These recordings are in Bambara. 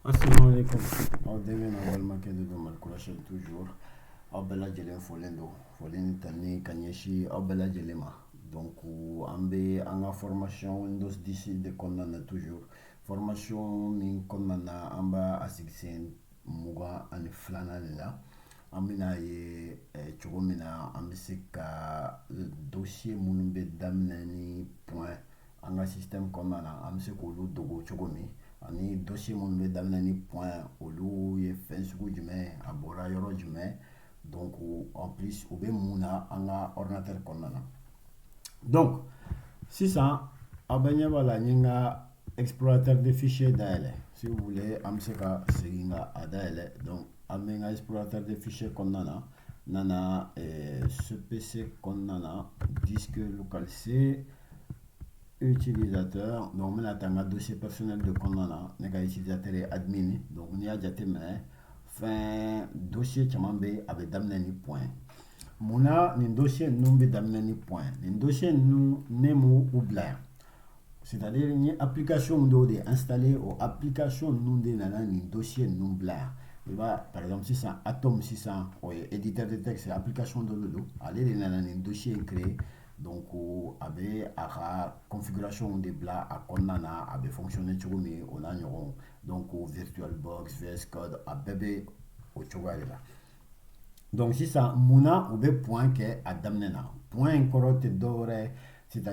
Assalamualaikum. Aw dɛmɛ na balimakɛ de don Mali kura chaîne toujours aw bɛɛ lajɛlen folen don foli ni tanu ka ɲɛsin aw bɛɛ lajɛlen ma donc an bɛ an ka formation Windows 10 de kɔnɔna na toujours formation min kɔnɔna na an b'a sigi sen mugan ani filanan de la an bɛna ye eh, cogo min na an bɛ se ka eh, dossier minnu bɛ daminɛ ni point an ka système kɔnɔna na an bɛ se k'olu dogo cogo min ani dossier minnu bɛ daminɛ ni point olu ye fɛn sugu jumɛn a bɔra yɔrɔ jumɛn donc en plus u bɛ mun na an ka ordinateur kɔnɔna na donc sisan aw bɛ ɲɛ b'a la n ye n ka explorateur de fichier dayɛlɛ si vous voulez an bɛ se ka segin ka a dayɛlɛ donc an bɛ n ka explorateur de fichier kɔnɔna na n nana eh, Ce PC kɔnɔna na disque local c utilisateur donc n bɛna taa n ka dossier personnel de kɔnɔna na ne ka utilisateur ye admin donc n'i y'a jateminɛ fɛn dossier caman bɛ yen a bɛ daminɛ ni point mun na nin dossier ninnu bɛ daminɛ ni point nin dossier ninnu ne m'u bila yan c'est à dire n ye application dɔw de installer o application ninnu de nana nin dossier ninnu bila yan i b'a par exemple sisan atom sisan o ye éditeur de texte application dɔ de don ale de nana nin dossier in créer Don ko a bɛ a ka kɔnfikurasiw de bila a kɔnɔna na a bɛ fsɔn cogo min o la ɲɔgɔn dɔn ko vituwalisi a bɛɛ bɛ o cogoya de la dɔnku sisan mun u bɛ p kɛ a daminɛ na p in kɔrɔ tɛ dɔw wɛrɛ sita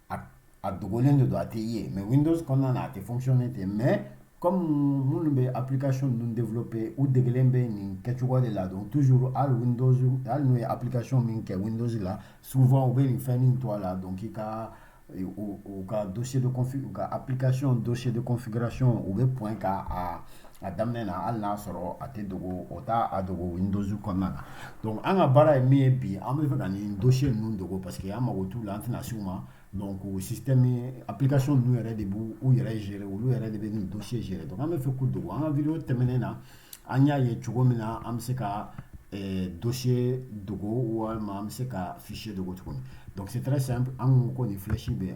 a dogolen de don a tɛ ye mais windows kɔnɔna na a tɛ fonctionner ten mais comme minnu bɛ application ninnu développer u degelen bɛ nin kɛcogo de la donc toujours hali windows hali n'u ye application min kɛ windows la souvent u bɛ nin fɛn nin to a la donc i ka u ka dossier de config u ka application dossier de configuration u bɛ point kɛ a a daminɛ na hali n'a sɔrɔ a tɛ dogo o t'a dogo windows kɔnɔna na donc an ka baara ye min ye bi an bɛ fɛ ka nin dossier ninnu dogo parce que an mago t'u la an tɛna s'u ma donc o système application ninnu yɛrɛ de b'u yɛrɛ gérer olu yɛrɛ de bɛ nin dossier gérer donc an bɛ fɛ k'u dogo an ka vidéo tɛmɛnen na an y'a ye cogo min na an bɛ se ka eh, dossier dogo walima an bɛ se ka fichier dogo cogo min donc c'est très simple an ko ko nin flèche bɛ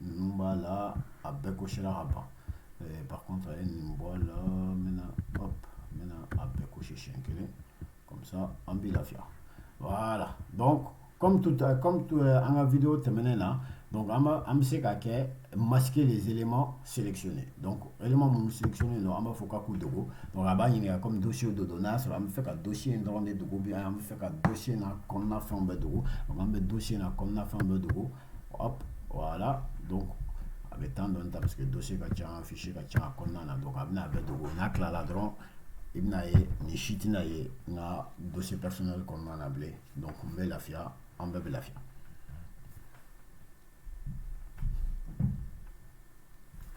ninnu b'a la a bɛɛ cochéra ka ban eh, par contre a ye nin bɔ a la n bɛna hop n bɛna a bɛɛ cocher siɲɛ kelen comme ça a b'i lafiya voilà donc comme tout comme tout eh, an ka vidéo tɛmɛnen na donc an b'a an bɛ se ka kɛ masquer les éléments sélectionné donc élément minnu sélectionné don an b'a fɔ k'a k'u dogo donc a b'a ɲininka comme dossier dɔ don n'a y'a sɔrɔ an bɛ fɛ ka dossier in dɔrɔn de dogo bien an bɛ fɛ ka dossier n'a kɔnɔna fɛnw bɛɛ dogo donc an bɛ dossier n'a kɔnɔna fɛnw bɛɛ dogo hop voilà donc a bɛ temps dɔɔni ta parce que dossier ka ca fichier ka ca a kɔnɔna na donc a bɛna a bɛɛ dogo n'a tilala dɔrɔn i bɛna ye nin si tɛna ye n ka dossier personnel kɔnɔna na bilen donc n bɛ lafiya an bɛɛ bɛ lafiya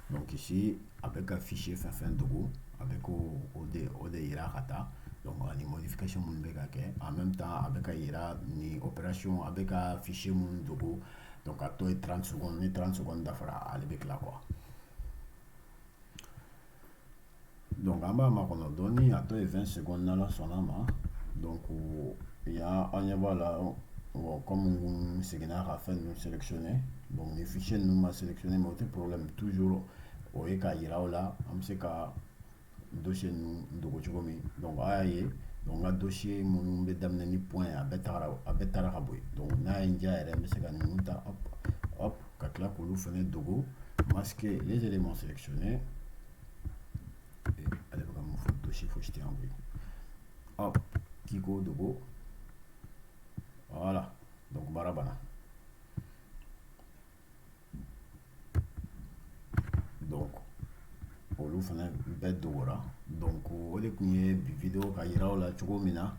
Donc ici, a bɛ ka fichier fɛn fɛn dogo, a bɛ k'o de yira ka taa, donc ani modification minnu bɛ ka kɛ en même temps a bɛ ka yira ni opération a bɛ ka fichier minnu dogo donc a tɔ ye 30 secondes ni 30 secondes dafara ale bɛ tila quoi donc an b'a makɔnɔ dɔɔni a tɔ ye 20 secondes n'ala sɔnna ma donc yan an ɲɛ b'a la bon comme n seginna ka fɛn ninnu sélectionner donc ni fichier ninnu ma sélectionner mais o tɛ problème toujours o ye k'a yira aw la an bɛ se ka dossier ninnu dogo cogo min donc a y'a ye donc n ka dossier minnu bɛ daminɛ ni point ye a bɛɛ tagara a bɛɛ taara ka bɔ yen donc n'a ye n diya yɛrɛ n bɛ se ka ninnu ta hop hop ka tila k'olu fana dogo masquer les éléments sélectionnés ale bɛ ka mun fɔ dossier fosi tɛ yan koyi hop k'i k'o dogo voilà donc baara banna donc olu fana bɛɛ dogora donc o de kun ye bi video ka yira aw la cogo min na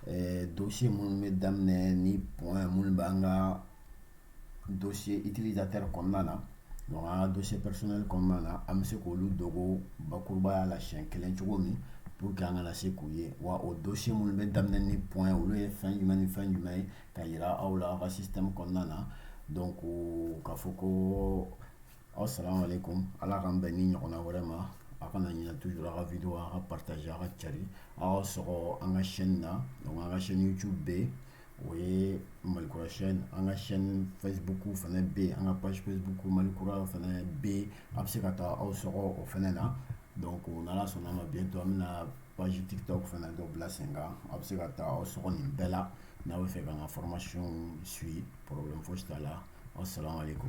eh, dossier minnu bɛ daminɛ ni point minnu b'an ka dossier utilisateur kɔnɔna na donc an ka dossier personnel kɔnɔna na an bɛ se k'olu dogo bakurubaya la siɲɛ kelen cogo min pour que an kana se k'u ye wa o dossier minnu bɛ daminɛ ni point olu ye fɛn jumɛn ni fɛn jumɛn ye ka yira aw la aw ka système kɔnɔna na donc k'a fɔ ko assalamu alaikum ala k'an bɛn ni ɲɔgɔnna wɛrɛ ma a kana ɲinɛ toujours a ka video a ka partager a ka cari aw sɔgɔ an ka chaîne na donc an ka chaîne YouTube bɛ yen o ye malikura sy an ka sy fɛbugu fana bɛ yen an ka basifɛbugu malikura fana bɛ yen a bɛ se ka taa aw sɔrɔ o fana na dɔn ko ala sɔnna ma bin to min na basijita fana dɔ bila sen kan a bɛ se ka taa aw sogo nin bɛɛ la n'a bɛ fɛ ka ka fɔrɔmasiy su porolen fosi t'a la aw sara ko